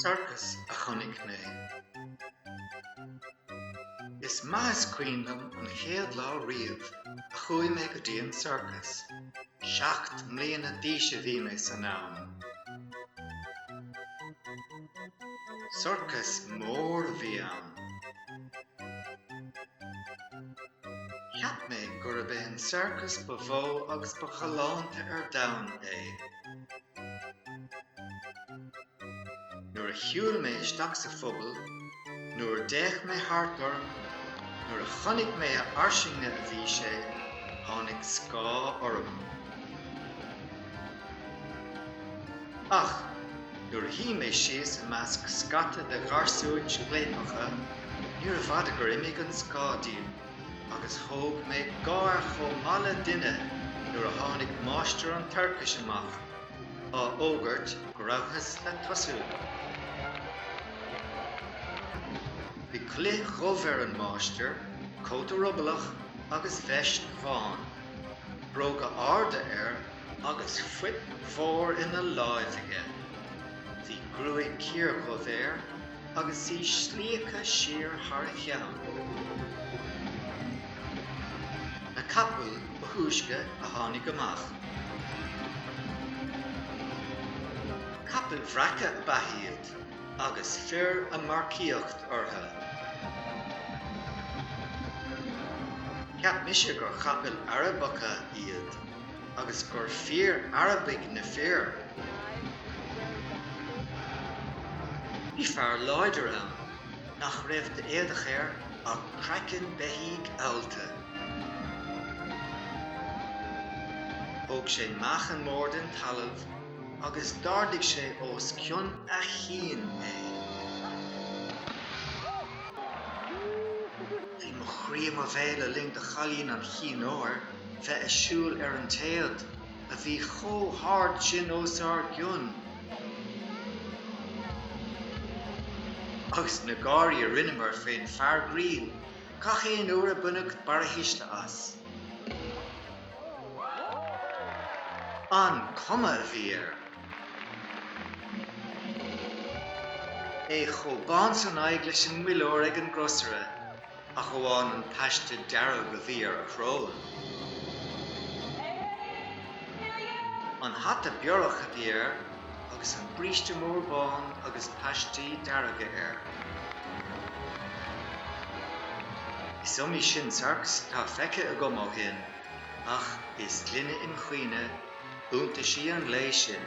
Sorcas a chonaic mé. Is maith is cuimhin liom an chéad lá riamh a chuaigh mé go dtí an sorcas. Seacht mbliana d'aois a bhí mé san am. Sorcas mór a bhí ann. Cheap mé gurb é an sorcas ba mhó agus ba ghalánta ar domhan é. Nuair a shiúil mé isteach sa phuball, nuair a d'fhéach mé thart orm, nuair a chonaic mé a fhairsinge a bhí sé, tháinig scáth orm. Ach nuair a shuigh mé síos i measc scata de gharsúin scléipeacha, níorbh fhada gur imigh an scáth díom agus thóg mé gáir chomh maith le duine nuair a tháinig máistir an tsorcais amach á fhógairt go rabhthas le tosú. Bhí culaith dhubh ar an máistir, cóta ruballach agus veist bhán, bróga arda air, agus fuip mhór ina láimh aige. Bhí gruaig chiardhubh air agus í slíoctha siar thar a cheann. Na capaill ba thúisce a tháinig amach. Capaill bhreaca ab ea iad agus fir ag marcaíocht orthu. Cheap mise gur chapaill Arabacha iad. agus gur fíor-Arabaigh na fir. Bhí fear láidir ann nach raibh d'éadach air ach craiceann beithígh allta. Thóg sé meáchan mór den talamh agus d'ardaigh sé os cionn a chinn é. Bhí mo chroí i mo bhéal le linn do chailín an chinn óir. bheith ag siúl ar an téad a bhí chomh hard sin os ár gcionn, agus na gáirí a rinneamar fén fear grinn gach aon uair a baineadh barrathuisle as. An cuma a bhí air! É chomh bán san aghaidh leis an muilleoir ag an gcrosaire! ach amháin an paiste dearg a bhí ar a shrón. An hata biorach a bhí air agus an bríste mór bán agus paistí dearga air. Is iomaí sin sarcas atá feicthe agam ó shin, ach is glinne im chuimhne iontaisí an lae sin.